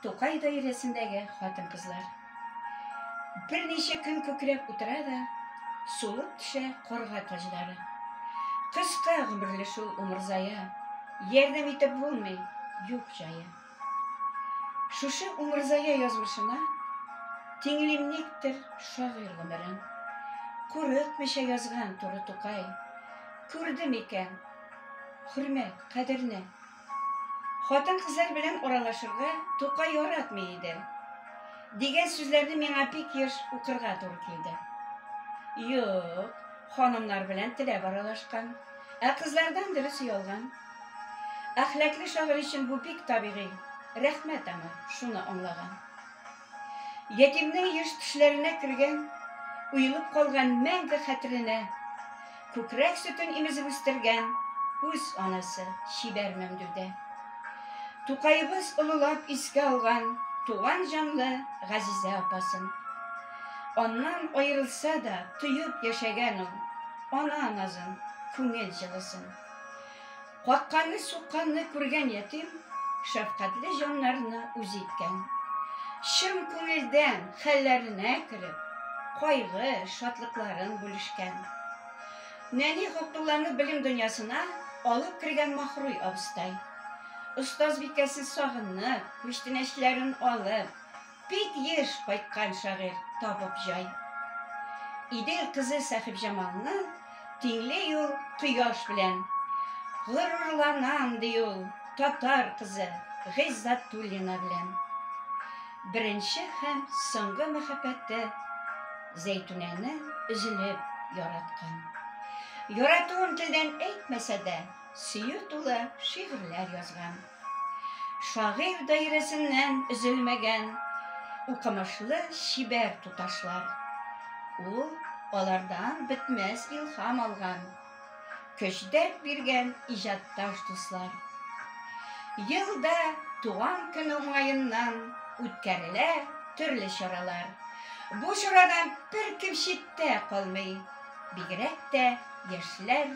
Тукай даирәсендәге хатын-кызлар. Берничә көн күкрәп утыра да, сулып төшә карга таҗлары. Кыска гомерле шул умырзая, ярдәм итеп булмый, юк җае. Шушы умырзая язмышына тиңлим никтер шагыйрь гомерен. Курыкмыйча язган туры Тукай, күрдем икән, хөрмәт, кадерне. Хатын-кызлар белән аралашырга Тукай яратмый иде. Дигән сүзләрне миңа бик еш укырга туры килде. Юк, ханымнар белән теләп аралашкан. Ә кызлардан дөрес оялган. Әхләкле шагыйрь өчен бу бик табигый. Рәхмәт аңа, шуны аңлаган. Ятимнең еш төшләренә кергән, уелып калган мәңге хәтеренә Күкрәк сөтен имезеп үстергән үз анасы чибәр Мәмдүдә. Тукаебыз олылап искә алган туган җанлы газизә апасын. Аннан аерылса да, тоеп яшәгән ул ана назын, күңел җылысын. Какканны-сукканны күргән ятим шәфкатьле җаннарны үз иткән. Чын күңелдән хәлләренә кереп, кайгы, шатлыкларын бүлешкән. Нәни Габдулланы белем дөньясына алып кергән Махруй абыстай. Остазбикәсен сагынып, күчтәнәчләрен алып, Бик еш кайткан шагыйрь табып җай. Идел кызы Сәхибҗамалны тиңли ул кояш белән. Горурланам, ди ул, татар кызы Гыйззатуллина белән. Беренче һәм соңгы мәхәббәте Зәйтүнәне өзелеп яраткан. Яратуын телдән әйтмәсә дә, сөю тулы шигырьләр язган. Шагыйрь даирәсеннән өзелмәгән укымышлы чибәр туташлар. Ул алардан бетмәс илһам алган, көч-дәрт биргән иҗатташ дуслар. Елда туган көне уңаеннан үткәрелә төрле чаралар. Бу чарадан беркем читтә калмый, бигрәк тә яшьләр